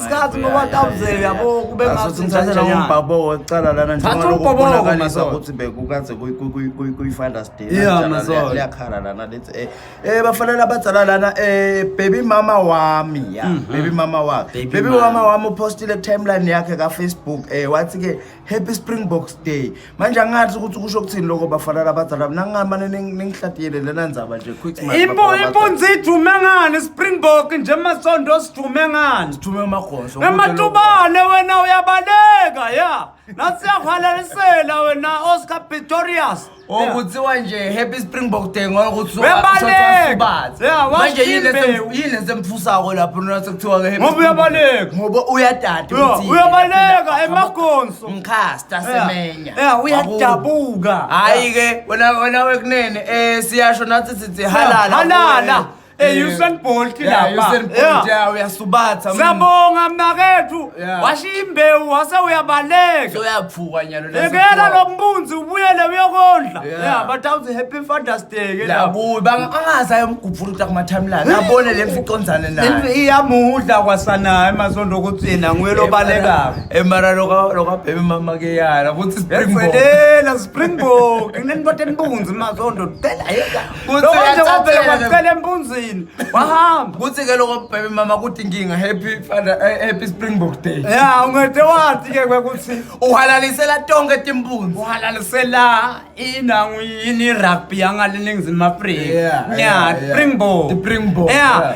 isikhathi ngoba kawuze yabo kube ngathi ngithatha umbhabo wecala lana nje ngoba ukubonakaliza ukuthi bekukaze kuyi-finder's day liyakhala lana lithi eh, eh bafanele abadzala lana eh baby mama wami ya mhm. baby mama wami baby mama wami upostile ku-timeline yakhe kafacebook um wathi-ke happy springboks day manje angathi ukuthi kusho ukuthini lokho bafana labadala mina ngingamane ningihlatiyele lena ndzaba nje impunzi ijume ngani springbok nje masondo sijume ngani sithume umagoso ematubane wena uyabaleka ya nasiyakhalalisela wena oscar pitorius okuthiwa nje happy springbok day ngoba ukuthi Uyabaleka! usubathi Yeah, washo manje yini imbewu. lesi- yini lesi emfusako lapho nona sekuthiwa ke happy Ngoba Springbok. uyabaleka. ngoba uyadada Yo, ukuthi- uyabaleka emagonso mkhasta semenya ya Wakubo. uyadabuka hayi ke wena wena wekunene eh siyasho nathi sithi halala halala kuwe. Eh Usain Bolt Yeah, lapha. Usain Bolt, Yeah. yeah, uyasubatha. mm. Siyabonga mnakethu. Yeah. Washiya imbewu wase uyabaleka. So uyaphuka nyalo la Ekela siphuka. lo mbunzi ubuyele uyokondla. Yeah. Yeah, but awuthi happy Father's Day ke lapho. Labuyi banga angazi ayomgubhula ukuthi akuma timeline. Abone le mfi iconzane naye. Impi iyamudla kwasanaye masondo ukuthi yena nguye lobalekako. Emara loka loka baby mama ke yala ukuthi springbok. Yagcwelela Springbok. Nginenibothe nibunzi masondo. Phela yeka. Kuthi Lokho nje uyathathela wavele ke- kwacela empunzini wahamba kuthi ke loko bhebe mama kuthi inkinga happy father eh, happy springbok day ya ungede wathi ke kwekuthi uhalalisela tonke timpunzi uhalalisela inangu yini rugby yangaliningizima afrika Yeah, yeah, yeah. springbok Ti-Springbok, yeah. yeah.